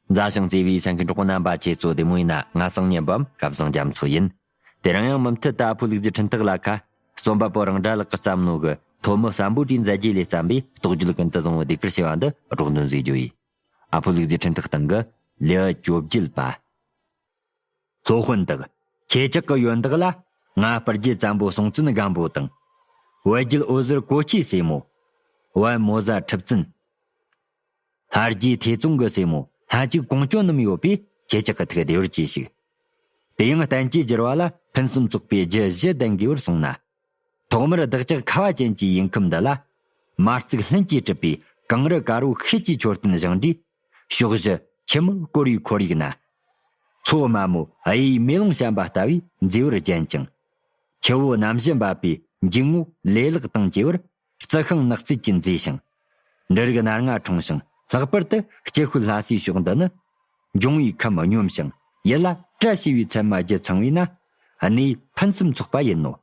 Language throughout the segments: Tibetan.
མཛའ་ཞིང་བརྩེ་བའི་སེང་གེ་འབྲོག་པ་རྣམ་པ་ཁྱེད་ཚོ་བདེ་མོ་ཡིན་ན་ང་སང་ཉིན་བམ་སྐབས་བཟང་རྒྱ་མཚོ་ཡིན། དེ་རིང་ཡང་མུ་མཐུད་ལྟ་ཕོ་ལུག་རྫི་འཕྲིན་ཐག་ལ་ཁ། རྩོམ་པ་པོ་རང་དགྲ་ལགས་ཀྱི་བསམ་མནོ་གི་ཐོབ་མོ་བསམ་པོ་གྲའི་མཛད་རྗེས་ལས་བརྩམས་པའི་རྟོགས་བརྗོད་ཀུན་ཏུ་བཟང་བོ་དེ་གར་ཕྱེ་བ་འདི་སྒྲོག་འདོན་བཟོས་རྒྱུ་ཡིན། ཨ་ཕོ་ལུག་རྫི་འཕྲིན་ཐག་སྟེང་གི་ལེའུ་བཅོ་བརྒྱད་པ། སློབ་དཔོན་དག། ཁྱེད་ཅག་གི་ཡོན་བདག་ལ་ང་སྤར་རྒྱལ་བཙན་པོ་སྲོང་བཙན་སྒམ་པོ་དང། བལ་རྒྱལ་འོད་ཟེར་གོ་ཁྱི་སྲས་མོ། བལ་མོ་བཟའ་འཁྲིབ་བཙན། ལྷ་རྒྱའི་ཐེ་ཙོང་གི་སྲས་མོ་ལྷ་གཅིག་གོང་སྐྱོང་རྣམས་ཡོད་པས་ཁྱེད་ཅག་གི་ཐུགས་བདེ་བར་གྱིས་ཤིག། དེ་ཡང་བསྟན་བཅོས་བསྒྱུར་བ་ལ་ཕུན་སུམ་ཚོགས་པའི་རྒྱུད་བཞི་ལྡན་དགོས་པར་གསུངས་ན། ཐོག་མར་བདག་ཅག་ཁ་བ་ཅན་གྱི་ཡིན་ཁུམས་འདི་ལ། མ་བརྩིགས་ལྷུན་གྱིས་གྲུབ་པའི་གངས་རི་དཀར་བོ་ཤེལ་གྱི་མཆོད་རྟེན་བཞེངས་དུས། ཕྱོགས་བཞི་ཁྱི་མོ་བསྐོར་བའི་ཁོར་ཡུག་ན། མཚོ་དམའ་མོ་གཡས་མེ་ལོང་བཤམས་པ་ལྟ་བུའི་མཛེས་པར་བརྒྱན་ཅིང། ཁྱི་བོ་རྣམ་བཞི་འབབ་པའི་འཇིགས་བསྔོ་ལེ་ལག་དང་བཅས་པར་རྩི་ཤིང་ནགས་རྩིས་ཀྱིས་མཛེས་ཤིང། འབྲུ་རིགས་སྣ་ལྔ་འཁྲུངས་ཤིང་ལྷག་པར་དུ་སྐྱེ་ཤུལ་ལྷ་སའི་ཕྱོགས་འདི་ནི། འབྱུང་བའི་ཁམས་སྙོམས་ཤིང་ཡུལ་ལ་བཀྲ་ཤིས་པའི་ཚད་མ་བརྒྱད་ཚང་བས་ན། གནས་ཕུན་སུམ་ཚོགས་པ་ཡིན་ནོ།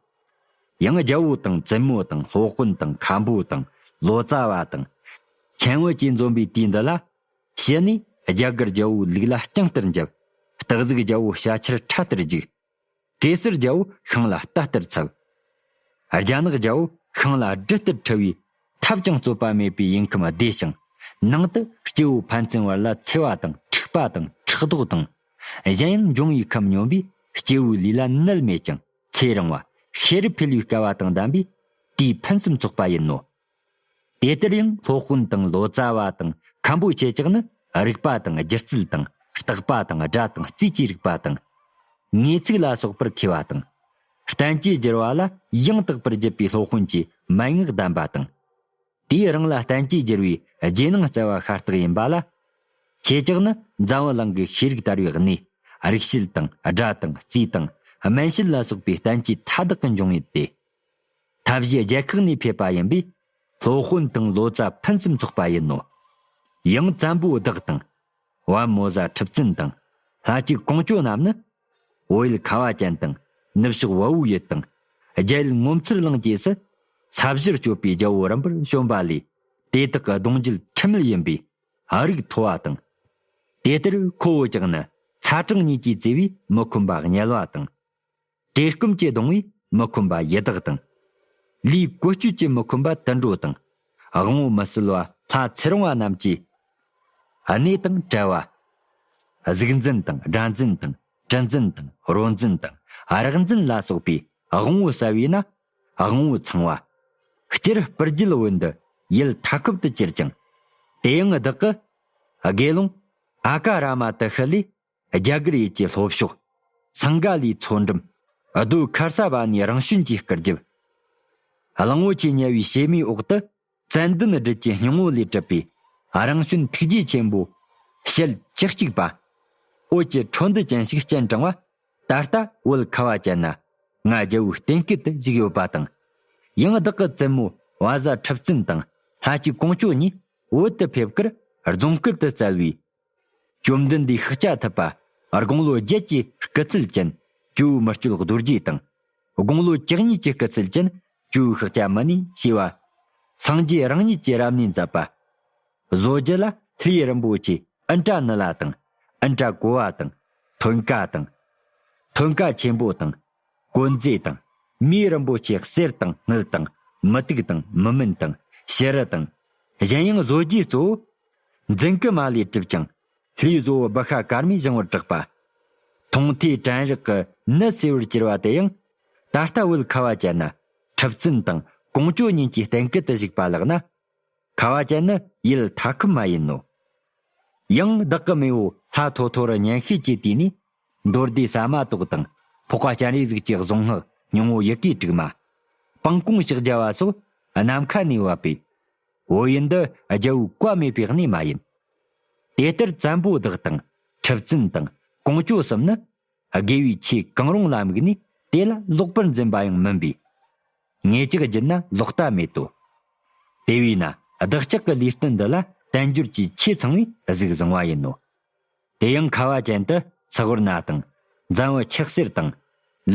ཡང་རྒྱལ་པོ་དང་བཙུན་མོ་དང་ལྷོ་དཔོན་དང་མཁའ་འགྲོ་དང་ལོ་ཙཱ་བ་དང། ཁྱེད་བོད་ཀྱི་འཛོམས་པའི་དུས་འདི་ལ། ཞི་གནས་རྒྱ་གར་རྒྱལ་པོའི་ལུགས་ལ་རྐྱང་ལྟར་འཇབ། སྟག་གཟིག་རྒྱལ་པོ་ཤ་ཁྱེར་ཁྲ་ལྟར་རྒྱུག། གེ་སར་རྒྱལ་པོ་ཤིང་ལ་རྟ་ལྟར་འཚབ། རྒྱ་ནག་རྒྱལ་པོ་ཤིང་ལ་སྦྲུལ་ལྟར་འཁྲུལ་བའི། ཐབས་ཀྱང་རྩོད་པ་མེད་པའི་ཡུལ་ཁམས་བདེ་ཞིང། ནང་དུ་སྐྱེ་བོ་ཕན་ཚུན་བར་ལ་འཚེ་བ་དང་འཁྲིག་པ་དང་ཕྲག་དོག་དང། གཞན་ཡང་འབྱུང་བའི་ཁམས་སྙོམས་པས་སྐྱེ་བོའི་ལུས་ལ་ནད་མེད་ཅིང་ཚེ་རིང་བ། ཤེས་རབ་འཕེལ་བའི་སྐལ་བ་དང་ལྡན་པས། དེའི་ཕུན་སུམ་ཚོགས་པ་ཡིན་ནོ། དེ་ལྟར་ཡང་སློབ་དཔོན་དང་ལོ་ཙཱ་བ་དང་མཁན་པོའི་ཁྱེད་ཅག་ནི་རིགས་པ་དང་སྒྱུ་རྩལ་དང་རྟག་པ་དང་སྒྲ་དང་རྩིས་ཀྱི་རིགས་པ་དང། ངེས་ཚིག་ལ་སོགས་པར་མཁས་པ་དང། བསྟན་བཅོས་བསྒྱུར་བ་ལ་ཡང་དག་པར་བརྒྱུད་པའི་སློབ་དཔོན་གྱི་མན་ངག་གདམས་པ་དང། དེས་རང་ལ་བསྟན་བཅོས་བསྒྱུར་བའི་རྗེས་གནང་སྩལ་བ་ཤ་སྟག་ཡིན་པ་ལ། ཁྱེད་ཅག་ནི་འཛམ་བུ་གླིང་གི་ཤེས་རིག་དར་བའི་གནས་རིག་བྱེད་དང་སྒྲ་དང་རྩིས་དང་སྨན་བྱེད་ལ་སོགས་པའི་བསྟན་བཅོས་མཐའ་དག་གི་འབྱུང་ཡུལ་ཏེ། ཐབས་ཤེས་རྒྱལ་ཁག་ནས་ཕེབས་པ་ཡིན་པས། སློབ་དཔོན་དང་ལོ་ཙཱ་ཕུན་སུམ་ཚོགས་པ་ཡིན་ནོ། ཡང་བཙན་པོ་བདག་དང། བན་མོ་བཟའ་འཁྲིབ་བཙུན་དང། ལྷ་གཅིག་གངས་སྐྱོད་རྣམས་ནི། བོད་ཡུལ་ཁ་བ་ཅན་དང། ནུབ་ཕྱོགས་བ་བོའི་ཡུལ་དང། རྒྱ་ཡུལ་ངོ་མཚར་གླིང་བཅས་སུ། ས་བཞིར་སྤྱོད་པའི་རྒྱལ་པོ་རིམ་པར་བྱོན་པ་ལས། དེ་དག་གི་གདུང་རྒྱུད་ཁྲི་མིལ་ཡིན་པས། ཨ་རིག་མཐོ་བ་དང། དེ་ལྟར་ཁོ་བོ་ཅག་ནི། ཚ་གྲང་གཉིས་ཀྱིས་བརྩེ་བས་མི་ཁོམ་པ་ངལ་བ་དང། བཀྲེས་སྐོམ་སྐྱེ་གདོང་བས་མི་ཁོམ་པ་ཡི་དྭགས་དང། ལུས་བཀོལ་སྤྱོད་ཀྱིས་མི་ཁོམ་པ་དུད་འགྲོ་དང། དབང་བོ་མི་སྲུལ་བ་ལྷ་ཚེ་རིང་བ་རྣམས་ཀྱིས། གནས་དང་བྲལ་བ། གཟུགས་འཛིན་དང་སྒྲ་འཛིན་དང་དྲི་འཛིན་དང་རོ་འཛིན་དང་རགས་འཛིན་ལ་སོགས་པའི་དབང་བོ་གསལ་བས་ན་དབང་བོ་ཚང་བ། སྤྱིར་སྤུར་རྒྱུད་བོད་འདི་ཡུལ་མཐའ་འཁོབ་ཏུ་གྱུར་ཅིང། དེའང་བདག་གི། དགེ་སློང། ཨ་ཀ་ར་མ་ཏི་ཤི་ལས་རྒྱ་གར་ཡུལ་གྱི་ལྷོ་ཕྱོགས། སངས་ག་ལའི་མཚོ་འགྲམ། རྡོའི་མཁར་ས་བ་ནས་རང་བྱོན་གྱི་སྐར་རྒྱབ། གླིང་བུ་ཆེས་ཉེ་བའི་བྱེ་མའི་འོག་ཏུ། ཙན་དན་བསྒྲིལ་གྱི་སྙིང་བོ་ལས་གྲུབ་པའི། རང་བྱོན་ཐུགས་རྗེ་ཆེན་པོ། ཞལ་གཅིག་གཅིག་པ། འོད་ཀྱི་འཕྲོ་འདུ་ཅན་ཞིག་སྤྱན་དྲང་བ། ད་ལྟ་བོད་ཁ་བ་ཅན་ན། ང་རྒྱལ་བོའི་རྟེན་སྐུལ་དུ་བཞུགས་ཡོད་པ་དང། ཡང་བདག་གི་བཙུན་མོ་བ་བཟའ་འཁྲབ་བཙུན་དང་ལྷ་གཅིག་གོང་ཆོས་གཉིས་བོད་དུ་ཕེབས་ཁར་རྫོང་སྐུལ་དུ་བསྩལ་བའི་བཅོམ་ལྡན་འདས་ཤཱཀྱ་ཐུབ་པ། དགུང་ལོ་བརྒྱད་ཀྱི་སྐུ་ཚུལ་ཅན། ཀྱུའུ་མི་སྤྱོད་རྡོ་རྗེ་དང། དགུང་ལོ་བཅུ་གཉིས་ཀྱི་སྐུ་ཚུལ་ཅན། ཀྱུའུ་ཤཱཀྱ་མུ་ནེ་ཞེས་པ། སངས་རྒྱས་རང་ཉིད་ཀྱིས་རབ་གནས་མཛད་པ། བཟོ་རྒྱུད་ལ་ལྷའི་རིན་པོ་ཆེ་ཨིན་ཏྲ་ནི་ལ་དང། ཨིན་ཏྲ་གོ་བ་དང། ཐོད་མཁའ་དང། ཐོད་མཁའ་ཆེན་པོ་དང། བཀོད་མཛེས་དང། མིའི་རིན་པོ་ཆེ་གསེར་དང་སྣག་དང། མི་དུག་དང་མི་སྨན་དང། བྱི་རུ་དང། གཞན་ཡང་བཟོ་རྒྱུའི་གཙོ་བོ། རྫིང་གི་མ་ལས་གྲུབ་ཅིང། ལྷའི་བཟོ་བོ་བི་ཤ་ཀརྨས་བཞེངས་བར་གྲགས་པ། མཐོང་ཐོས་དྲན་རེག་གི་ནི་གསེར་བུར་གྱུར་པ་དེ་ཡང། ད་ལྟ་བོད་ཁ་བ་ཅན་ན། ཁྲི་བཙུན་དང་ཀོང་ཇོ་གཉིས་ཀྱི་གཏན་སྐལ་དུ་བཞུགས་པ་ལགས་ན། ཁ་བ་ཅན་ནི་ཡུལ་མཐའ་ཁུལ་མ་ཡིན་ནོ། ཡང་བདག་གི་མེས་པོ་ལྷ་ཐོ་ཐོ་རུ་སྙན་ཤོས་ཀྱི་དུས་ནས་མདོར་བསྡུས་ཟ་མ་ཏོག་དང། ཕོག་པ་སྤྱན་རས་གཟིགས་ཀྱི་གཟུངས་སྔགས་ཉུང་ངུ་ཡི་གེ་དྲུག་མ། སྤང་གོང་བཤགས་བྱ་བ་སོགས་ནམ་མཁའ་ནས་བབས་པའི། འོ་ཡི་འདི་རྒྱལ་བོའི་བཀའ་མེད་པའི་གནས་མ་ཡིན། དེ་ལྟར་བཙན་པོ་བདག་དང་ཁྲི་བཙུན་དང་གོང་ཅོ་གསུམ་ནི། དགེ་བའི་ཆོས་གང་རུང་ལ་དམིགས་ནས་དེ་ལ་ལོག་པར་འཛིན་པ་ཡང་མིན་པས། ངེད་ཅག་སྦྱིན་ན་ལོག་ལྟ་མེད་དོ། དེ་བས་ན་བདག་ཅག་གི་ལུས་རྟེན་འདི་ལ་བསྟན་འགྱུར་གྱི་ཆེས་ཚང་བའི་གཟུགས་བཟང་བ་ཡིན་ནོ། དེ་ཡང་ཁ་བ་ཅན་དུ་ཚགས་བུར་ན་དང། འཛམ་བུ་ཆགས་གསེར་དང།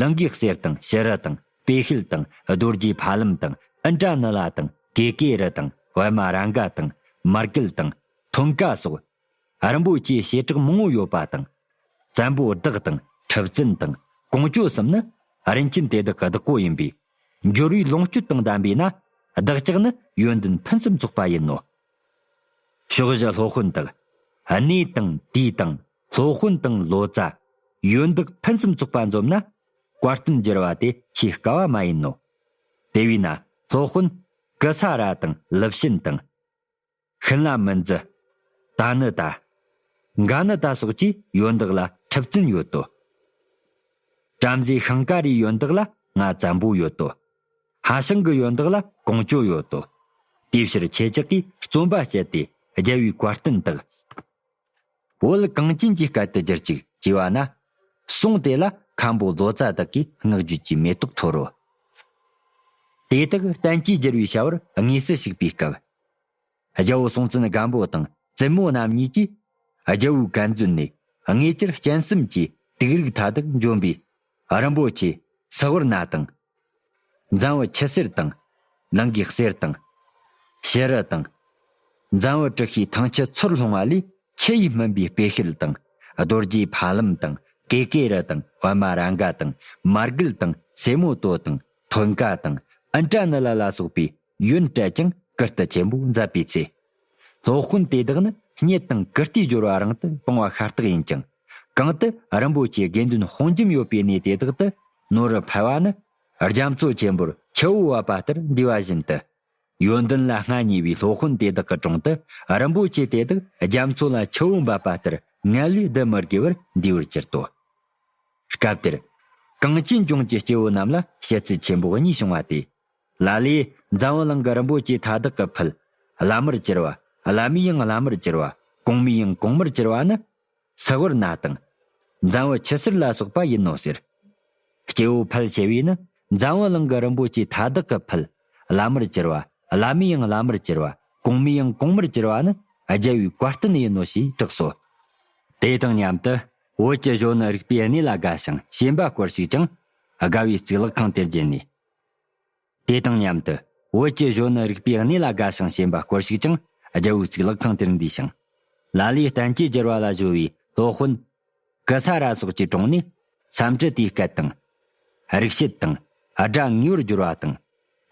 ལིང་གའི་གསེར་དང་ཞི་རུ་དང་སྤོས་ཤེལ་དང་རྡོ་རྗེའི་ཕ་ལམ་དང་ཨིན་ཏྲ་ནི་ལ་དང་ཀེ་ཀེ་རི་དང་བྷི་མ་རཱ་འག་དང་མར་སྐེལ་དང་ཐོམ་ཀ་སོགས། རིན་པོ་ཆེའི་བྱེ་བྲག་མང་བོ་ཡོད་པ་དང། བཙན་པོ་བདག་དང་ཁྲི་བཙུན་དང་གོང་བཅོ་གསུམ་ནི་རིན་ཆེན་དེ་དག་གི་བདག་པོ་ཡིན་པས། འབྱོར་བའི་ལོངས་སྤྱོད་དང་ལྡན་པས་ན་བདག་ཅག་ནི་ཡོན་ཏན་ཕུན་སུམ་ཚོགས་པ་ཡིན་ནོ། ཕྱོགས་བཞི་སློབ་དཔོན་དག། གནས་དང་དུས་དང་སློབ་དཔོན་དང་ལོ་ཙཱ། ཡོན་བདག་ཕུན་སུམ་ཚོགས་པ་འཛོམ་ན། བཀའ་བསྟན་བསྒྱུར་བ་དེ་ཆེས་དཀའ་བ་མ་ཡིན་ནོ། དེ་བས་ན་སློབ་དཔོན། སྐུ་ས་ར་དང་ལིབ་ཤན་དང། ཤིན་ལ་མི་འཛི། ད་ནི་ད། འགའ་ནི་ད་སོགས་ཀྱིས་ཡོན་བདག་ལ་ཁྲིབ་བཙུན་ཡོད་དོ། བྲམ་ཟེ་ཤིང་ཀ་རའི་ཡོན་བདག་ལ་ང་བཙན་པོ་ཡོད་དོ། ཧ་ཤང་གི་ཡོན་བདག་ལ་གང་སྐྱོན་ཡོད་དོ། དེའི་ཕྱིར་ཁྱེད་ཅག་གིས་བརྩོན་པ་བྱས་ཏེ་རྒྱལ་བའི་བཀའ་བསྟན་དག། བོད་གངས་ཅན་གྱི་སྐལ་དུ་བསྒྱུར་ཅིག་ཅེས་བ་ན། གསུངས་དེ་ལ་མཁན་པོ་ལོ་ཙཱ་བདག་གིས་བསྔགས་བརྗོད་ཀྱི་མེ་ཏོག་འཐོར་རོ། དེ་དག་བསྟན་གྱིས་བསྒྱུར་བའི་བྱ་བར་དངོས་སུ་ཞུགས་པའི་སྐབས། རྒྱལ་པོ་སྲོང་བཙན་སྒམ་པོ་དང་བཙུན་མོ་རྣམ་གཉིས་ཀྱིས། རྒྱལ་བོའི་བཀའ་མཛོད་ནས་དངོས་གྱུར་སྤྱན་གསུམ་གྱི་དུག་རིགས་མཐའ་དག་འཇོམས་པའི། རིན་པོ་ཆེ་སི་ཝུར་ནཱ་དང། འཛམ་བུ་ཁྱི་སེར་དང། ལིང་གའི་གསེར་དང། བྱི་རུ་དང། འཛམ་བུ་དྲི་ཤའི་ཐང་ཆུ་ཚུར་ལྷུང་བ་ལས་ཆུ་ཡིས་སྨིན་པའི་སྤོས་ཤེལ་དང། རྡོ་རྗེའི་ཕ་ལམ་དང་ཀེ་ཀེ་རི་དང་བྷ་མ་རཱ་འགའ་དང་མར་གུལ་དང་སེ་མོ་ཏོ་དང་ཐོད་འགའ་དང་ཨིན་ཏྲ་ནི་ལ་ལ་སོགས་པའི། གཡོན་བསྐྲད་ཀྱང་ཀིརྟི་ཆེན་པོ་མཛད་པའི་ཚེ། སློབ་དཔོན་དེ་དག་ནི་སྙེ་དང་ཀིརྟིའི་སྦྱོར་བ་རང་དུ་སྤོང་བ་ཤ་སྟག་ཡིན་ཀྱང། གང་དུ་རིན་པོ་ཆེའི་དགེ་འདུན་དཔུང་འཇོམས་ཡོད་པའི་གནས་དེ་དག་ཏུ་ནོར་རུ་འཕེལ་བ་ནི། རྒྱ་མཚོ་ཆེན་པོར་ཁྱེའུ་བབས་པ་ལྟར་འདུས་པ་བཞིན་དུ། ཡོན་ཏན་ལ་མངའ་བརྙེས་པའི་སློབ་དཔོན་དེ་དག་གི་དྲུང་དུ་རིན་པོ་ཆེ་དེ་དག་རྒྱ་མཚོ་ལ་ཁྱེའུ་འབབ་པ་ལྟར་མངལ་ལས་བསྡུ་མི་དགོས་པར་འདུས་པར་གྱུར་ཏོ། སྐབས་དེར། གངས་ཅན་ལྗོངས་ཀྱི་སྐྱེ་བོ་རྣམས་ལ་བཤད་ཚུལ་ཆེན་པོ་གཉིས་བྱུང་བ་སྟེ། ལ་ལས། འཛམ་བུ་གླིང་གི་རིན་པོ་ཆེ་མཐའ་དག་གི་ཕུད། བླ་མར་གྱུར་པ། བླ་མའི་དབྱིངས་བླ་མར་གྱུར་པ། གོང་མའི་དབྱིངས་གོང་མར་གྱུར་པ་ནི། སྲི་ཝར་ན་དང། འཛམ་བུ་ཆུ་སེར་ལ་སོགས་པ་ཡིན་ནོ་ཟེར། སྐྱེ་བོ་ཕལ་ཆེ་བས་ནི། འཛམ་བུ་གླིང་གི་རིན་པོ་ཆེ་མཐའ་དག་གི་ཕུད། བླ་མར་གྱུར་པ། བླ་མའི་དབྱིངས་བླ་མར་གྱུར་པ། གོང་མའི་དབྱིངས་གོང་མར་གྱུར་པ་ནི། རྒྱལ་བའི་བཀའ་བསྟན་ཡིན་ནོ་ཞེས་གྲགས་སོ། དེ་དང་མཉམ་དུ། བོད་ཀྱི་གཞོན་ནུ་རིག་པའི་གནས་ལ་དགའ་ཞིང་ཞེན་པ་སྐོར་ཞིག་ཀྱང། དགའ་བའི་རྩིག་ལག་ཁང་དེར་བརྒྱན་ནས། དེ་དང་མཉམ་དུ་བོད་ཀྱི་གཞོན་ནུ་རིག་པའི་གནས་ལ་དགའ་ཞིང་ཞེན་པ་སྐོར་ཞིག་ཀྱང་རྒྱལ་བོའི་གཙུག་ལག་ཁང་དེར་འདུས་ཤིང། ལ་ལས་བསྟན་བཅོས་བསྒྱུར་བ་ལ་གཞོལ་བའི་སློབ་དཔོན། ཀི་སཱ་ར་སོགས་ཀྱི་དྲུང་ནས་བསམ་གྲུབ་དེའི་སྐད་དང། རིག་བྱེད་དང། སྒྲ་ངེས་པར་བསྒྱུར་བ་དང།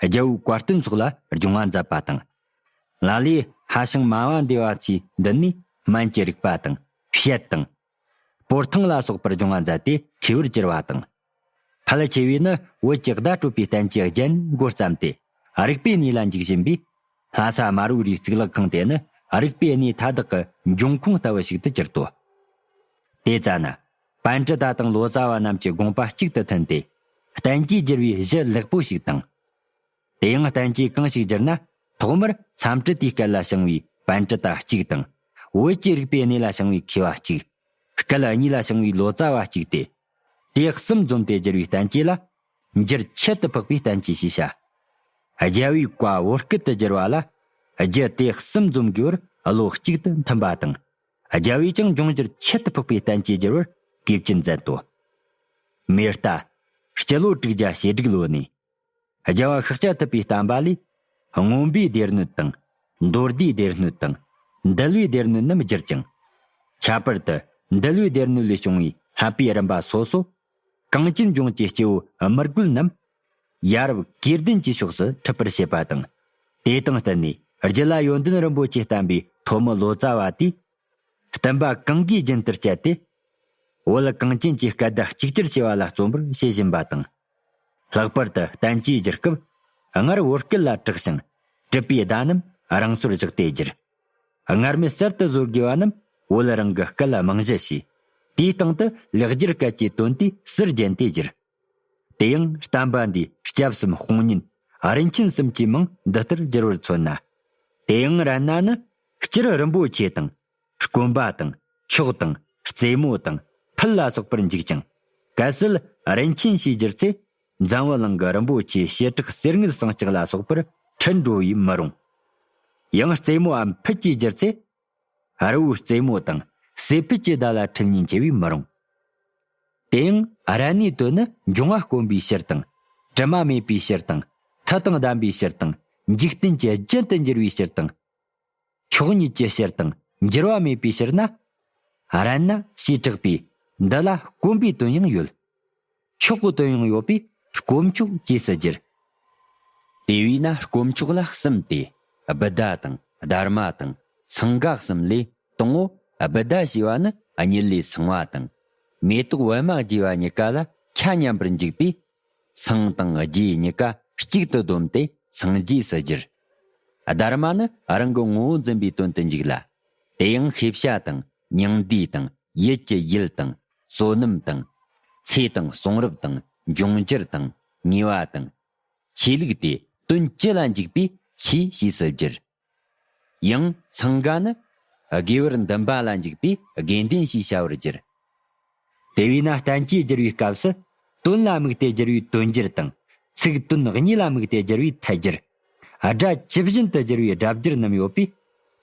རྒྱལ་བོའི་བཀའ་བསྟན་སོགས་ལ་སྦྱོང་བ་མཛད་པ་དང། ལ་ལས་ཧ་ཞིང་སྨྲ་བ་འདི་བ་ཚོས་འདི་ནི་སྨན་གྱི་རིག་པ་དང། བཤད་དང། སྤོར་ཐང་ལ་སོགས་པར་སྦྱོང་བ་མཛད་དེ་མཁས་པོར་གྱུར་པ་དང། ཕལ་ཆེ་བས་ནི་བོད་ཀྱི་བརྡ་སྤྲོད་པའི་རྟེན་གྱི་རྒྱན་མགོ་བརྩམས་ཏེ། རིག་པའི་གནས་ལ་འཇུག་བཞིན་པས། ལྷ་ས་དམར་བོའི་རིའི་རྩིག་ལག་ཁང་དེ་ནི་རིག་པའི་གནས་མཐའ་དག་གི་འབྱུང་ཁུངས་ལྟ་བུ་ཞིག་ཏུ་གྱུར་ཏོ། དེ་ལྟ་ན། བན་དྲི་ཟླ་དང་ལོ་ཙཱ་བ་རྣམས་ཀྱི་དགོངས་པ་གཅིག་ཏུ་མཐུན་ཏེ། གཏན་གྱི་སྒྱུར་བའི་གཞི་ལེགས་པོ་ཞིག་དང། དེ་ཡང་བསྟན་བཅོས་གང་ཞིག་བསྒྱུར་ན། ཐོག་མར་མཚམས་སྤྲི་དུས་སྐད་ལ་བྱང་བའི་བན་དྲི་ད་གཅིག་དང། བོད་ཀྱི་རིག་པའི་གནས་ལ་བྱང་བའི་ཁེ་བ་གཅིག། སྐད་གཉིས་ལ་བྱང་བའི་ལོ་ཙཱ་བ་གཅིག་སྟེ། དེ་གསུམ་འཛོམས་ཏེ་བསྒྱུར་བའི་བསྟན་བཅོས་ལ། འགྱུར་ཁྱད་དུ་འཕགས་པའི་བསྟན་བཅོས་ཞེས་བྱ། རྒྱལ་བའི་བཀའ་བོད་སྐད་དུ་བསྒྱུར་བ་ལ། རྒྱུད་དེ་གསུམ་འཛོམས་དགོས་པར་བློ་གཅིག་ཏུ་མཐུན་པ་དང། རྒྱལ་བས་ཀྱང་འབྱུང་འགྱུར་ཁྱད་དུ་འཕགས་པའི་བསྟན་བཅོས་བསྒྱུར་བར་དགོས་ཀྱི་མཛད་དོ། མེ་རྟ། སྤྱི་ལོ་དྲུག་བརྒྱ་ཞེ་དྲུག་ལོ་ནས། རྒྱལ་བ་ཤཱཀྱ་ཐུབ་པའི་བསྟན་པ་ལས། རྔོན་པའི་སྡེར་སྣོད་དང། མདོར་བསྡུས་སྡེར་སྣོད་དང། འདུལ་བའི་སྡེར་སྣོད་རྣམས་བསྒྱུར་ཅིང། ཁྱད་པར་དུ་འདུལ་བའི་སྡེར་སྣོད་ལས་བྱུང་བའི་ལྷག་པའི་རིམ་པ་སོ་སོ། གངས་ཅན་ལྗོངས་ཀྱི་སྐྱེ་བོ་མི་རྒོད་རྣམས། ཡ་རབས་སྐས་ལྡན་གྱི་ཕྱོགས་སུ་འཁྲིད་པར་བྱེད་པ་དང། དེ་དང་བསྟུན་ནས་རྒྱུད་ལ་ཡོན་ཏན་རིན་པོ་ཆེ་བསྟན་པའི་ཐོག་མི་ལོ་ཙཱ་བ་དེས་བསྟན་པ་གང་གིས་རྒྱུན་ལྟར་སྤྱད་དེ། བོད་གངས་ཅན་གྱི་སྐད་བརྡ་གཅིག་གྱུར་བྱེད་པ་ལ་བརྩོན་པར་བྱེད་བཞིན་པ་དང། ལྷག་པར་དུ་བསྟན་བཅོས་བསྒྱུར་སྐབས་སྔར་བོད་སྐད་ལ་དྲག་ཞིང་དྲིས་པའི་བརྡ་རྣམས་རང་སོར་བཞག་སྟེ་བསྒྱུར། སྔར་མེད་གསར་དུ་བཟོ་དགོས་པ་རྣམས་བོད་རང་གི་སྐད་ལ་རྨང་གཞི་བྱས། དེའི་སྟེང་དུ་ལེགས་སྒྱུར་སྐད་ཀྱི་དོན་དུས་གསར་བརྒྱན་ཏེ་བསྒྱུར། དེ་ཡང་བསྟན་པ་འདིའི་སྐྱབས་སམ་དཔུང་གཉེན་རིན་ཆེན་གསུམ་གྱི་མིང་འདི་ལྟར་བསྒྱུར་བར་མཚོན་ན། དེའང་ར་སྣ་ནི་སྤྱིར་རིན་པོ་ཆེ་དང། དཀོན་པ་དང། མཆོག་དང། རྩེ་མོ་དང། ཕུད་ལ་སོགས་པར་འཇུག་ཅིང། གལ་སྲིད་རིན་ཆེན་ཞེས་བསྒྱུར་ཚེ། འཛམ་བུ་གླིང་གི་རིན་པོ་ཆེའི་བྱེ་བྲག་གསེར་དངུལ་ཟངས་ལྕགས་ལ་སོགས་པར་འཁྲིལ་འགྲོ་བས་མི་རུང། ཡང་རྩེ་མོའམ་ཕུད་ཅེས་བསྒྱུར་ཚེ། རི་བོའི་རྩེ་མོ་དང་སྲིད་ཕུད་ཀྱི་ཟླ་ལ་འཁྲིལ་ཉིན་བྱེ་བས་མི་རུང། དེའང་ར་ནི་དོན་ནི་འབྱུང་བ་དཀོན་པའི་ཕྱིར་དང། དྲི་མ་མེད་པའི་ཕྱིར་དང། མཐུ་དང་ལྡན་པའི་ཕྱིར་དང། འཇིག་རྟེན་གྱི་རྒྱུན་དུ་འགྱུར་བའི་ཕྱིར་དང། ཕྱོགས་ཉིད་ཀྱི་ཕྱིར་དང་འགྱུར་བ་མེད་པའི་ཕྱིར་ན། རན་ན་ཞེས་གྲགས་པས་འདི་ལ་དཀོན་པའི་དོན་ཡང་ཡོད། ཆོས་སྐུ་དོན་ཡང་ཡོད་པས་དཀོན་མཆོག་སྐྱེས་སུ་གྱུར། དེ་བས་ན་དཀོན་མཆོག་ལ་གསུམ་སྟེ། སྦུད་ཟླ་དང་སྡར་མ་དང་སངས་དགའ་གསུམ་ལས་དང་ངོ། སྦུད་ཟླ་ཞེས་པ་ནི་ཉིད་ལས་སངས་བ་དང། མེ་ཏོག་བི་མ་རྒྱས་པ་གཉིས་ཀ་ལ་ཆ་མཉམ་པར་འཇུག་པས། སངས་དང་རྒྱས་གཉིས་ཀ་གཅིག་ཏུ་བསྡོམས་ཏེ་སངས་རྒྱས་སུ་གྱུར། སྡར་མ་ནི་རང་གི་ངོ་བོ་འཛིན་པའི་དོན་དུ་འཇུག་ལ། དེ་ཡང་ཤེས་བྱ་དང་མྱང་འདས་དང་ཡིད་ཀྱི་ཡུལ་དང། བསོད་ནམས་དང། ཚེ་དང་གསུང་རབ་དང་འབྱུང་འགྱུར་དང་ཉེ་བ་དང། ཆོས་ལུགས་དེ་དོན་སྤྱི་ལ་འཇུག་པའི་ཆོས་ཞེས་སུ་བསྒྱུར། ཡང་འཚང་ག་ནི། དགེ་བར་འདུན་པ་ལ་འཇུག་པའི་དགེ་འདུན་ཞེས་བྱ་བར་བསྒྱུར། དེ་བས་ན་བསྟན་བཅོས་བསྒྱུར་བའི་སྐབས་སུ་དོན་ལ་དམིགས་ཏེ་བསྒྱུར་བས་དོན་བསྒྱུར་དང། ཚིག་དོན་གཉིས་ལ་དམིགས་ཏེ་བསྒྱུར་བས་ཐད་བསྒྱུར། སྒྲ་ཇི་བཞིན་དུ་བསྒྱུར་བའི་སྒྲ་བསྒྱུར་རྣམས་ཡོད་པས།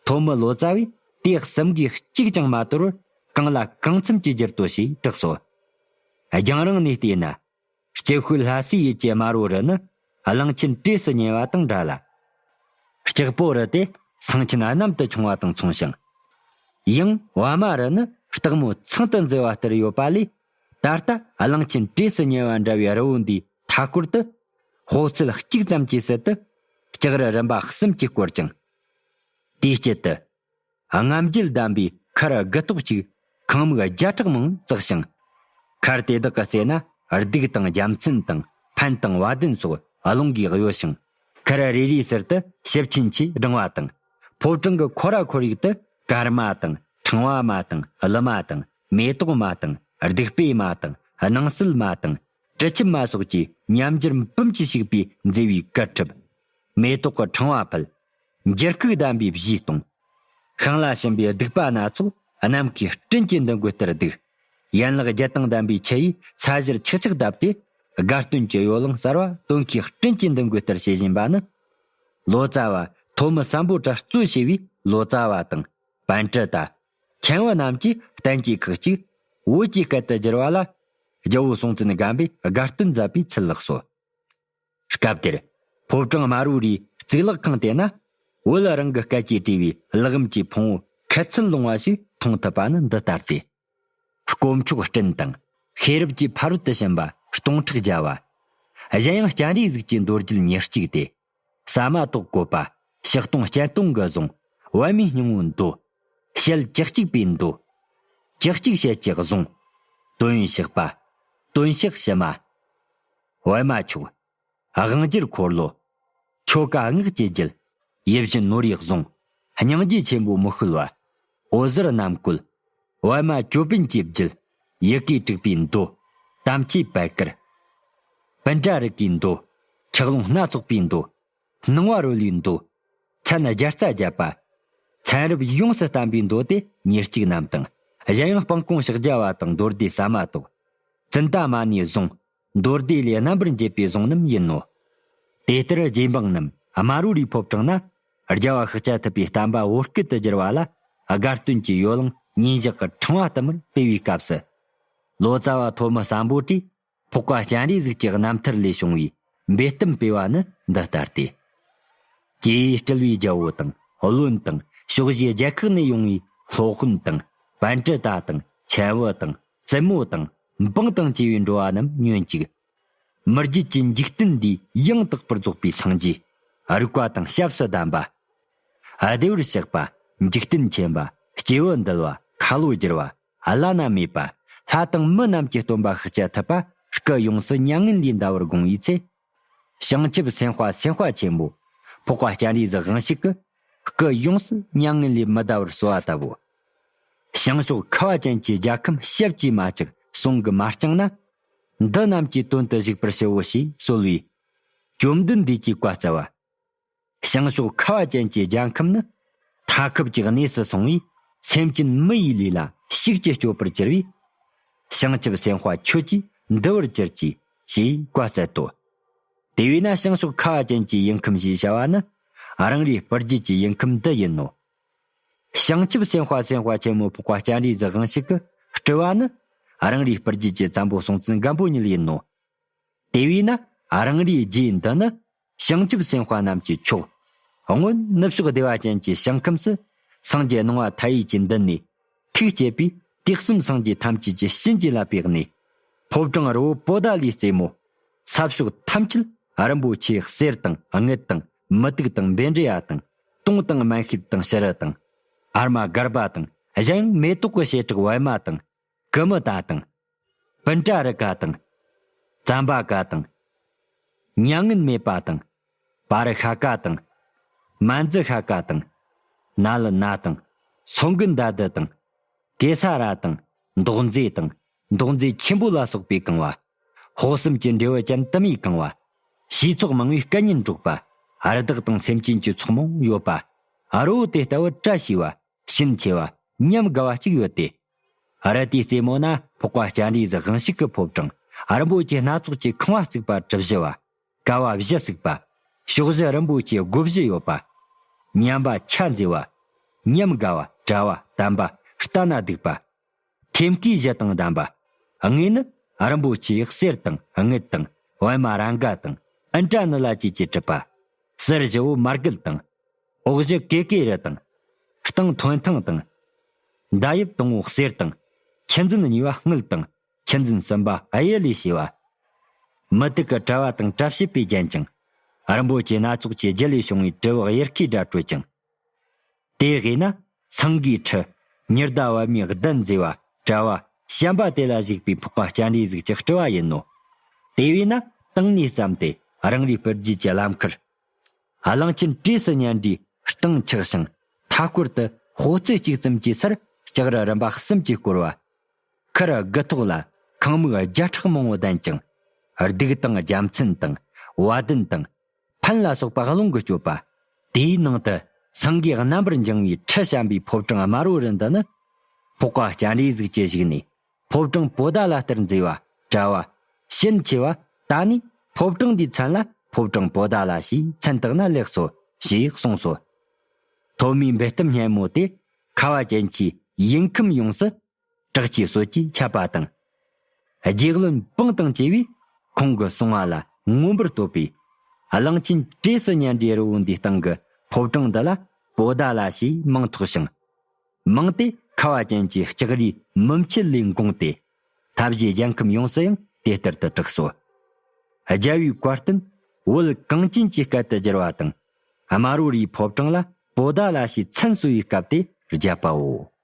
ཐོ་མི་ལོ་ཙཱ་བས་དེ་གསུམ་གའི་གཅིག་ཀྱང་མ་དོར་བར་གང་ལ་གང་འཚམ་གྱིས་བསྒྱུར་ཏོ་ཞེས་གྲགས་སོ། རྒྱང་རིང་ནས་བལྟས་ན། སྐྱེ་ཤུལ་ལྷ་སའི་ཡུལ་གྱི་དམར་བོ་རི་ནི་གླང་ཆེན་གྲས་སུ་ཉེ་བ་དང་འདྲ་ལ། སྐྱག་པོ་རི་དེ་ཚངས་ཆེན་གནམ་དུ་ཕྱུང་བ་དང་མཚུངས་ཤིང། གཡང་བ་མ་རི་ནི་སྟག་མོ་ཚང་དུ་འཛེགས་པ་ལྟར་ཡོད་པ་ལས་ད་ལྟ་གླིང་ཆེན་གྲས་སུ་ཉེ་བར་འདྲ་བའི་རི་བོ་འདིའི་མཐའ་སྐོར་དུ། ཧོ་རྩལ་གཅིག་ཙམ་གྱིས་སྲིད་དུ་ལྕགས་རི་རིམ་པ་གསུམ་གྱིས་བསྐོར་ཅིང། དེའི་དཀྱིལ་དུ། རྔམ་བརྗིད་ལྡན་པའི་མཁར་དགུ་ཏོག་གཅིག་ཁང་མིག་བརྒྱ་ཕྲག་མང་བརྩེགས་ཤིང། མཁར་དེ་དག་གི་རྩེ་ན་སྡུག་དང་རྒྱ་མཚན་དང་ཕན་དང་བ་དན་སོགས་རླུང་གིས་གཡོ་ཞིང། མཁར་རེ་རེའི་ཟུར་དུ་ཞིབ་ཆེན་གྱིས་བསྒྲེང་བ་དང། ཕོ་བྲང་གི་ཁོ་ར་ཁོར་ཡུག་ཏུ་སྐར་མ་དང་ཕྲེང་བ་མ་དང་ལི་མ་དང་མེ་ཏོག་མ་དང་རྡིག་པའི་མ་དང་སྣང་སྲིད་མ་དང་དྲི་ཆུ་མ་སོགས་ཀྱིས་མཉམ་སྦྱར་འབུམ་གྱིས་བྱུགས་པའི་མཛེས་པའི་སྐར་ཁྲབ། མེ་ཏོག་གི་ཕྲེང་བ་ཕུལ། འགྱུར་ཁུག་བསྡམས་པའི་བཞིས་སྟོང། ཤིང་ལ་བྱིན་པའི་བདུག་པ་སྣ་ཚོགས་ནམ་མཁའི་སྤྲིན་གྱི་འདུ་འགོད་ལྟར་བདུག། ཡན་ལག་བརྒྱད་དང་ལྡན་པའི་ཆུ་ཡིས་ས་གཞིར་ཆག་ཆག་བཏབ་སྟེ། དགའ་སྟོན་གྱི་ཡོ་ལང་གསར་བ་སྟོན་ཁའི་སྤྲིན་གྱི་འདུ་འགོད་ལྟར་བྱེད་བཞིན་པ་ནི། ལོ་ཙཱ་བ་ཐོག་མི་བསམ་པོ་གྲྭ་གཙོས་བྱས་པའི་ལོ་ཙཱ་བ་དང། བན་དྲུ་དང། ཁྱེང་བ་རྣམས་ཀྱིས་གཏན་གྱི་ཁག་གཅིག། བོད་ཀྱི་སྐད་དུ་བསྒྱུར་བ་ལ། རྒྱལ་བོ་སྲོང་བཙན་སྒམ་པོས་དགའ་སྟོན་མཛད་པའི་ཚུལ་ལགས་སོ། སྐབས་དེར། ཕོ་བྲང་དམར་བོའི་རིའི་རྩིག་ལག་ཁང་དེ་ན། བོད་རང་གི་སྐད་ཀྱིས་བྲིས་པའི་ལག་རིམ་གྱི་ཕུང་བོ་ཁལ་ཚུལ་ལོང་བ་ཞིག་མཐོང་ཐུབ་པ་ནི་འདི་ལྟར་ཏེ། དཀོན་མཆོག་སྤྲིན་དང། ཤེས་རབ་ཀྱི་ཕ་རོལ་ཏུ་ཕྱིན་པ་སྟོང་ཕྲག་བརྒྱ་བ། གཞན་ཡང་སྤྱན་རས་གཟིགས་ཀྱི་མདོ་རྒྱུད་ཉེར་གཅིག་སྟེ། ཟ་མ་ཏོག་བཀོད་པ། ཕྱི་སྟོང་སྤྱན་སྟོང་གི་གཟུངས། བལ་མེའི་སྙིང་བོའི་མདོ། ཞལ་གྱི་གཅིག་པའི་མདོ། གྱི་གཅིག་ཞལ་གྱི་གཟུངས། དོན་གཤེགས་པ། དོན་གཤེགས་ཕྱི་མ། བལ་མ་མཆོག། དབང་བསྒྱུར་འཁོར་ལོ། ཆོ་ག་སྔགས་ཀྱི་རྒྱུད། ཡིད་བཞིན་ནོར་བུའི་གཟུངས། སྙིང་རྗེ་ཆེན་པོའི་མི་ཤུལ་བ། འོད་ཟེར་རྣམ་བཀོད། བལ་མ་ཅོད་པན་གྱི་རྒྱུད། ཡི་གེའི་དྲུག་པའི་མདོ། དམ་སྐྱེས་དཔལ་དཀར། སྤུན་ཟླ་རིགས་ཀྱི་མདོ། འཁྱགས་ཀླུང་སྣ་ཚོགས་པའི་མདོ། སྣང་བ་རོལ་བའི་མདོ། མཚན་བརྒྱ་རྩ་བརྒྱད་པ། མཚན་རབས་ཡོངས་སུ་བསྟན་པའི་མདོ་སྟེ་ཉེར་གཅིག་རྣམས་དང། གཞན་ཡང་སྤང་སྐོང་ཕྱག་རྒྱ་བ་དང་མདོར་བསྡུས་ཟ་མ་ཏོག། ཙནྡ་མ་ནས་བཟུང། མདོ་སྡེ་ལས་རྣམ་པར་འབྱེད་པའི་གཟུངས་རྣམས་ཡིན་ནོ། དེ་ལྟར་རྗེ་འབངས་རྣམས་དམར་བོ་རིའི་ཕོབ་དྲངས་ན། རྒྱལ་བ་ཤཱཀྱ་ཐུབ་པའི་གཏམ་དཔའ་བོ་སྐད་དུ་བསྒྱུར་བ་ལ། དགའ་སྟོན་གྱི་ཡོ་ལང་ཉིན་བཞག་གི་འཕྲེང་བ་ལྟ་མར་སྤེལ་བའི་སྐབས་སུ། ལོ་ཙཱ་བ་ཐོ་མི་སམ་པོ་ཏིས་ཕོག་པ་སྤྱན་རས་གཟིགས་ཀྱི་རྣམ་ཐར་ལས་བྱུང་བའི་འབེལ་གཏམ་སྤེལ་བ་ནི་འདི་ལྟར་ཏེ། ཀྱེ་སྤྲུལ་བའི་རྒྱལ་བོ་དང་བློན་དང་ཕྱོགས་བཞིའི་རྒྱལ་ཁག་ནས་ཡོང་བའི་སློབ་དཔོན་དང་བན་དྲུ་དག་དང་ཆེན་བུ་དང། རྩེད་མོ་དང། འབངས་དང་བཅས་པའི་འགྲོ་བ་རྣམས་ཉོན་ཅིག། མི་བརྒྱུད་ཀྱི་འཇིག་རྟེན་འདི་ཡང་དག་པར་རྫོགས་པའི་སངས་རྒྱས། རིག་པ་དང་སྐྱབས་སུ་གདམས་པ། བདེ་བར་གཤེགས་པ། འཇིག་རྟེན་མཁྱེན་པ། སྐྱེ་བོ་འདུལ་བ། ཁ་ལོ་བསྒྱུར་བ། བླ་ན་མེད་པ། ལྷ་དང་མི་རྣམས་ཀྱི་སྟོན་པ་ཤཱཀྱ་ཐུབ་པ། སྐུ་ཡོངས་སུ་མྱ་ངན་ལས་འདའ་བར་དགོངས་པའི་ཚེ། བྱང་ཆུབ་སེམས་དཔའ་སེམས་དཔའ་ཆེན་པོ། ཕོག་པ་སྤྱན་རིས་གཟུགས་རང་ཞིག་གི། སྐུ་ཡོངས་སུ་མྱ་ངན་ལས་མི་འདའ་བར་གསོལ་བ་བཏབ་བོ། བྱང་ཕྱོགས་ཁ་བ་ཅན་གྱི་རྒྱལ་ཁམས་ཞབས་ཀྱིས་མ་བཅག་གསུང་གིས་མ་བསྐྱངས་ན། འདི་རྣམས་ཀྱི་དོན་དུ་གཞུག་པར་ཞུའོ་ཞེས་གསོལ་བས། བཅོམ་ལྡན་འདས་ཀྱིས་བཀའ་སྩལ་པ། བྱང་ཕྱོགས་ཁ་བ་ཅན་གྱི་རྒྱལ་ཁམས་ནི། མཐའ་ཁུབ་ཀྱི་གནས་སུ་སོང་བས། སེམས་ཅན་མི་ཡི་ལུས་ལ་ཤུགས་ཀྱིས་སྐྱོབ་པར་གྱུར་པས། བྱང་ཆུབ་སེམས་དཔའ་ཁྱོད་ཀྱིས་འདུལ་བར་གྱུར་ཅིག། ཞེས་བཀའ་སྩལ་ཏོ། དེ་བས་ན་བྱང་ཕྱོགས་ཁ་བ་ཅན་གྱི་ཡུལ་ཁམས་ཞེས་བྱ་བ་ནི། རང་རེའི་སྤར་རྒྱུད་ཀྱི་ཡུལ་ཁམས་འདི་ཡིན་ནོ། བྱང་ཆུབ་སེམས་དཔའ་སེམས་དཔའ་ཆེན་མོ་ཕོག་པ་སྤྱན་རས་གཟིགས་དབང་ཕྱུག་གིས་སྤྲུལ་བ་ནི། རང་རེའི་སྤར་རྒྱུད་ཀྱི་བཙན་པོ་སྲོང་བཙན་སྒམ་པོ་ཉིད་ཡིན་ནོ། དེ་བས་ན་རང་རེའི་རྒྱུད་འདི་ནི། བྱང་ཆུབ་སེམས་དཔའ་རྣམས་ཀྱི་མཆོག། སྔོན་ནུབ་ཕྱོགས་བདེ་བ་ཅན་གྱི་བྱང་ཁམས་སུ། སངས་རྒྱས་སྣང་བ་མཐའ་ཡས་ཀྱི་མདུན་ནས། ཐུགས་བསྐྱེད་པས་དུས་གསུམ་སངས་རྒྱས་ཐམས་ཅད་ཀྱི་གཤིན་རྗེ་ལ་བརྟགས་ནས། ཕོ་བྲང་རི་བོ་པོ་ཏཱ་ལའི་རྩེ་མོ། ས་ཕྱོགས་ཐམས་ཅད་རིན་པོ་ཆེའི་གསེར་དང་དངུལ་དང་མུ་ཏིག་དང་སྦེ་འབྲས་ཡ་དང་སྟོང་དང་སྨན་ཤིད་དང་ཤི་རི་དང། ཨར་མ་སྒར་པ་དང་གཞན་ཡང་མེ་ཏོག་གི་བྱེ་བྲག་བི་མ་དང་ཀུ་མུ་ད་དང། བིན་ཏྲ་རི་ཀ་དང། ཙམ་པ་ཀ་དང། མྱ་ངན་མེད་པ་དང། བ་རི་ཤ་ཀ་དང། མ་ཛི་ཤ་ཀ་དང། ན་ལི་ན་དང། སོ་འགུ་མདའ་དི་དང། ཀེ་ས་ར་དང། མདོག་མཛེས་དང། མདོག་མཛེས་ཆེན་པོ་ལ་སོགས་པས་གང་བ། ཧོ་གསུམ་གྱི་འབྲས་བུ་ཅན་དུ་མས་གང་བ། ཞེས་ཚོགས་མང་བའི་སྐལ་ཉིན་སྒྲོགས་པ། རི་དྭགས་དང་སེམས་ཅན་གྱི་ཚོགས་མང་ཡོད་པ། རི་བོ་དེ་ལྟ་བུ་བཀྲ་ཤིས་པ། ཤིན་ཆེ་བ། ཉམས་དགའ་བ་གཅིག་ཡོད་དེ། རལ་གྲིའི་རྩེ་མོ་ན་ཕོག་པ་སྤྱན་རས་གཟིགས་དབང་ཤིག་གི་ཕོབ་གྲངས་རིན་པོ་ཆེ་སྣ་ཚོགས་ཀྱི་ཁང་བ་བརྩིགས་པ་གྲི་བཞི་བ། ཀ་བ་བཞི་བརྩིགས་པ། ཕྱོགས་བཞི་རིན་པོ་ཆེ་སྒོ་བཞི་ཡོད་པ། མཉམ་པ་ཕྱག་མཛེས་བ། ཉམས་དགའ་བ། བཀྲ་བ་དམ་པ། ལྟ་ན་སྡུག་པ། ཐེམ་སྐས་བཞི་དང་ལྡན་པ། ལྔས་ནི་རིན་པོ་ཆེའི་གསེར་དང་དངུལ་དང་བི་མ་རཱ་འགའ་དང་ཨིན་ཏྲ་ནི་ལ་བཅས་ཀྱིས་གྲུབ་པ། གསེར་བཞི་བོ་མར་གིལ་དང། འོག་བཞི་ཀེ་ཀེ་རི་དང། སྟེང་ཐོན་ཐང་དང། མདའ་དབྱིབས་དང་བོ་གསེར་དང། ཁྱི་འཛིན་གཉིས་པ་དངུལ་དང་ཁྱི་འཛིན་གསུམ་པ་གཡུ་ལས་བྱས་པ། མུ་ཏིག་གི་དྲ་བ་དང་དྲ་བྱེད་པས་བརྒྱན་ཅིང། རིན་པོ་ཆེ་སྣ་ཚོགས་ཀྱི་རྒྱུ་ལས་བྱུང་བའི་དྲིལ་བུ་གཡེར་ཁའི་སྒྲ་སྤྲོད་ཅིང། དེ་བས་ན་སངས་རྒྱས་ཁྲི། ཉི་ཟླ་བར་མའི་གདན་མཛེས་པ། དྲྭ་བ། བྱམས་པ་དེ་ལ་གཞིགས་པའི་འཕགས་པ་སྤྱན་རས་གཟིགས་ཀྱི་སྤྲུལ་བ་ཡིན་ནོ། དེ་བས་ན་བཏང་ནས་བརྩམས་ཏེ་རང་རེའི་དཔེར་བརྗོད་ཀྱི་ལམ་ཁར། གླིང་ཆེན་བཀྲས་སུ་ཉལ་འདྲའི་སྟེང་ཆགས་ཤིང། མཐའ་སྐོར་དུ་ཧོ་རྩེག་གཅིག་ཙམ་གྱི་སར་ལྕགས་རི་རིམ་པ་གསུམ་གྱིས་བསྐོར་བ། ཁར་དགུ་ཐོག་ལ་ཁང་མིག་བརྒྱ་ཕྲག་མང་བོ་ལྡན་ཅིང། སྡུག་དང་རྒྱ་མཚན་དང་བ་དན་དང། ཐུན་ལ་སོགས་པ་རླུང་གི་སྤྱོད་པ། དེའི་ནང་དུ་སེང་གེའི་རྣམ་པར་འགྱིང་བའི་ཁྲི་བྱམས་པའི་ཕོ་བྲང་དམར་བོ་རི་འདི་ནི། ཕོ་ཁ་སྤྱན་རས་གཟིགས་ཀྱི་བཞུགས་གནས། ཕོ་བྲང་པོ་ད་ལ་སྟེར་མཛེས་བ། བཀྲ་བ། ཞིན་ཆེ་བ། ད་ནི་ཕོ་བྲང་འདིའི་མཚན་ལ་ཕོ་བྲང་པོ་ད་ལ་ཞེས་མཚན་བཏགས་ན་ལེགས་སོ། ཞེས་གསུངས་སོ། ཐོག་མའི་འབུད་གཏམ་སྙན་མོ་དེ། ཁ་བ་ཅན་གྱིས་ཡིག་ཁམས་ཡོངས་སུ་དྲག་ཆས་སོགས་ཀྱིས་ཁྱབ་པ་དང། རྒྱལ་བློན་སྤང་དང་བཅས་པས་ཁོང་གི་གསུང་བ་ལ་མངོན་པར་བསྟོད་པས། གླང་ཆེན་བཀྲེས་སུ་མྱ་འདྲེ་རི་བོ་འདིའི་སྟེང་གི་ཕོ་བྲང་འདི་ལ་པོ་ད་ལ་ཞེས་མིང་ཐོགས་ཤིང། མིང་དེ་ཁ་བ་ཅན་གྱི་ལྕགས་རིའི་མུ་འཁྱིལ་ལས་འགོངས་ཏེ། ཐབས་ཞེས་རྒྱལ་ཁམས་ཡོངས་སུ་ཡང་དེ་ལྟར་དུ་གྲགས་སོ། རྒྱལ་བོའི་བཀའ་བསྟུན་དབུལ་གངས་ཅན་གྱི་སྐད་དུ་བསྒྱུར་བ་དང། དམར་བོ་རིའི་ཕོ་བྲང་ལ་པོ་ད་ལ་ཞེས་མཚན་གསོལ་བའི་སྐབས་དེ་རྒྱབ་པའོ།